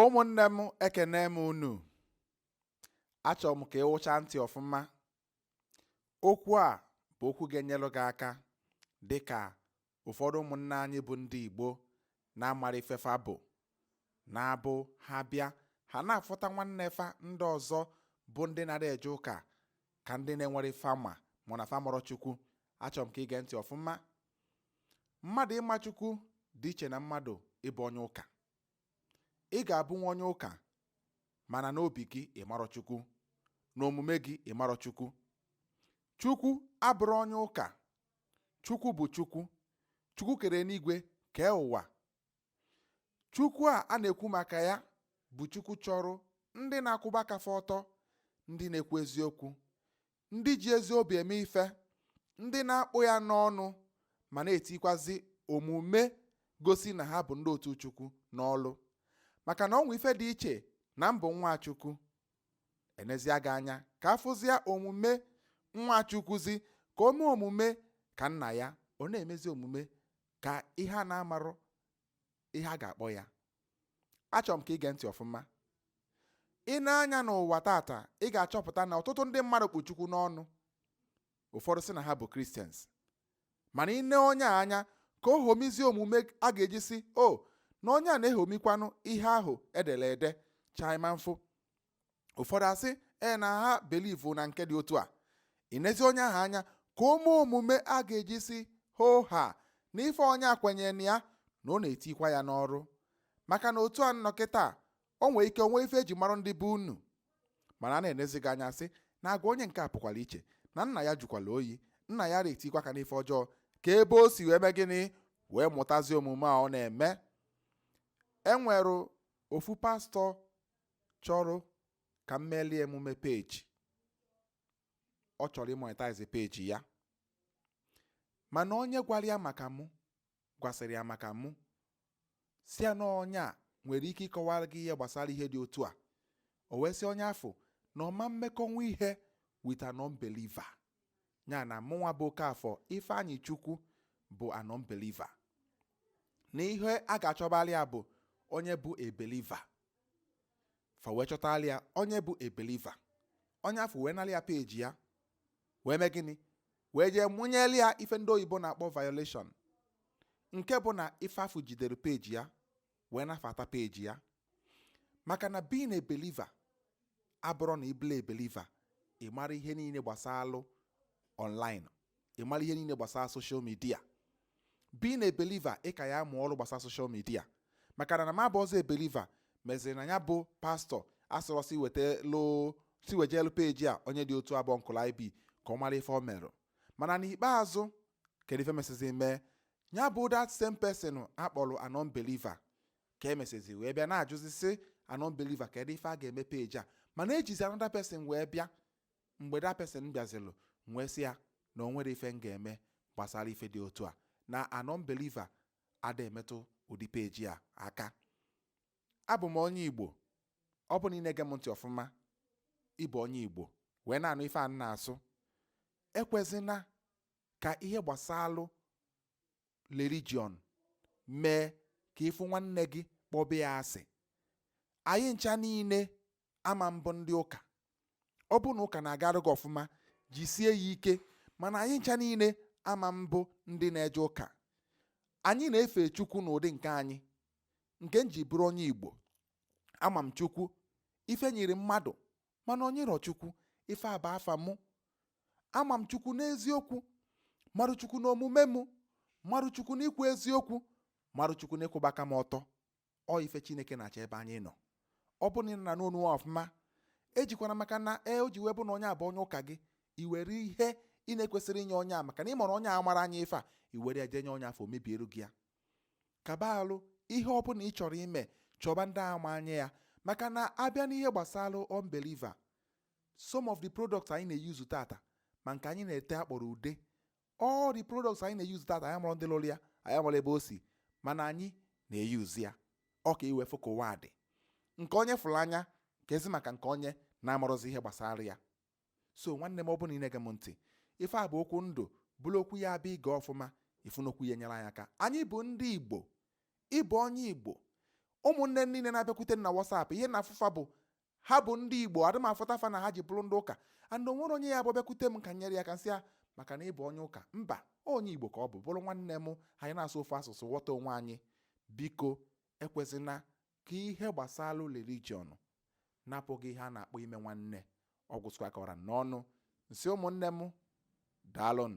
ụmụnne m ekene m unu achọrọ m ka ị wụcha ntị ọfụma okwu a bụ okwu ga-enyelụ gị aka dịka ụfọdụ ụmụnne anyị bụ ndị Igbo na-amara ife fa bụ na-abụ ha bịa ha na-afụta nwanne fa ndị ọzọ bụ ndị na-adị eje ụka ka ndị na-enwere ife ama ma na fa amarọ Chukwu achọrọ m ka ị gee ntị ọfụma mmadụ ịma Chukwu dị iche na mmadụ ịbụ onye ụka ị ga-abụnwu onye ụka mana n'obi gị ị marọ chukwu n'omume gị ị marọ chukwu chukwu abụrọ onye ụka chukwu bụ chukwu chukwu kere enigwe kee ụwa chukwu a a na-ekwu maka ya bụ chukwu chọrọ ndị na-akwụba aka fa ọtọ ndị na-ekwu eziokwu ndị ji ezi obi eme ife ndị na-akpụ ya n'ọnụ ma na-etikwazi omume gosi na ha bụ ndị otu chukwu n'ọlụ maka na o nwe ife dị iche na m bụ nwa chukwu e nezia gị anya ka a fụzia omume nwa chukwuzi ka o mee omume ka nna ya ọ na-emezi omume ka ihe a na-amarọ ihe a ga-akpọ ya achọrọ m ka ị gee ntị ọfụma ị nee anya n'ụwa taata ị ga-achọpụta na ọtụtụ ndị mmadụ kpụ Chukwu n'ọnụ ụfọdụ sị na ha bụ Christians mana ị nee onye a anya ka o ṅomizie omume a ga-eji sị o na onye a na-eṅomikwanụ ihe ahụ e dere ede cha ị ma mfụ ụfọdụ asị ee na ha believe na nke dị otu a i nezie onye ahụ anya ka o mee omume a ga-eji sị hoo haa na ife onye a kwenyere na ya na ọ na-etikwa ya n'ọrụ maka na otu a nọ kịtaa o nwee ike o nwe ife e ji mara ndị be unu mana a na-enezi gị anya sị na agwa onye nke a pụkwara iche na nna ya jụkwala oyi nna ya ada etikwa aka n'ife ọjọọ ka ebe o si wee mee gịnị wee mụtazie omume a ọ na-eme e nwere ofu pastọ chọrọ ka m meeli emume peji ọ chọrọ ịmonetize peji ya mana onye gwara ya maka mụ gwasịrị ya maka mụ sị ya na onye a nwere ike ịkọwara gị ihe gbasara ihe dị otu a o wee sị onye afụ na ọ ma mmekọnwu ihe with an unbeliever ya na mụnwa bụ Okafọ Ifeanyị Chukwu bụ an unbeliever na ihe a ga-achọbali ya bụ onye bụ a believer fa wee chọtala ya onye bụ a believer onye afụ wee nalị ya peji ya wee mee gịnị wee jee mụnyeli ya ife ndị oyibo na-akpọ violation nke bụ na ife afụ jidere peji ya wee nafata peji ya maka na being a believer abụrọ na ị bụlụ a believer ị mara ihe niile gbasalụ online ị mara ihe niile gbasara social media being a believer ị ka ya mụọ ọrụ gbasara social media maka na m abụ ọzọ a believer meziri na ya bụ pastor a sịrị sị weta loo sị wejelu peji a onye dị otu abụọ nkụla ib ka ọ mara ife o merụ mana n'ikpeazụ kedu ife mesizi mee ya bụ that same person a kpọrọ a non-believer ka e mesizi wee bịa na-ajụzi sị a non-believer kedu ife a ga-eme peji a mana ejizi another person wee bịa mgbe that person bịazilụ m wee sị ya na o nwere ife m ga-eme gbasara ife dị otu a na a non-believer ada emetụ ụdị peji a aka abụ m onye igbo ọ bụ na ị na-ege m ntị ọfụma ị bụ onye igbo wee na-anụ ife a m na-asụ ekwezina ka ihe gbasalụ religion mee ka ị fụ nwanne gị kpọba ya asị anyị ncha niile ama abụ ndị ụka ọ bụ na ụka na-agara gị ọfụma jisie ya ike mana anyị ncha niile ama abụ ndị na-eje ụka anyị na-efe chukwu n'ụdị nke anyị nke m ji bụrụ onye igbo ama m chukwu ife nyiri mmadụ mana o nyirọ chukwu ife a bụ afa mụ ama m chukwu n'eziokwu marụ chukwu n'omume mụ marụ chukwu n'ikwu eziokwu marụ chukwu n'ịkwụba aka m ọtọ ọ ife chineke na-achọ ebe anyị nọ ọ bụ na ị na-anụ onu ọfụma ejikwana maka na e o ji wee bụ na onye a bụ onye ụka gị i were ihe ị na-ekwesịrị inye onye a maka na ị mara onye a mara anya ife a i were ya jee nye onye afụ mebiere gị ya ka ọ bụlụ ihe ọ bụla ị chọrọ ime chọba ndị ma anya ya maka na a bịa n'ihe gbasara unbeliever some of the products anyị na-eyuzu tata ma nke anyị na-ete a kpọrọ ude all the products anyị na-eyuzu tata anyị amarọ ndị lụrụ ya anyị amarọ ebe o si mana anyị na-eyuzu ya ọ ka i wee fụ ka ụwa dị nke onye fụrụ anya keezi maka nke onye na-amarọzi ihe gbasara ya so nwanne m ọ bụ na ị na-ege m ntị ife a bụ okwu ndụ bụrụ okwu ya-abụ i gee ọfụma ị fụ na okwu ya nyere anyị aka anyị bụ ndị igbo ị bụ onye igbo ụmụnne niile na-abịakwute m na whatsapp ihe na-afụ fa bụ ha bụ ndị igbo adị m afụta fa na ha ji bụrụ ndị ụka and o nwere onye ya bụ bịakwute m ka m nyere ya aka m sị ya maka na ị bụ onye ụka mba onye igbo ka ọ bụ bụrụ nwanne m anyị na-asụ ofu asụsụ ghọta onwe anyị biko ekwezina ka ihe gbasara religion napụ gị ihe a na-akpọ ime nwanne ọ gwụsịkwa ka ọ ra m n'ọnụ m sị ụmụnne m daalụnụ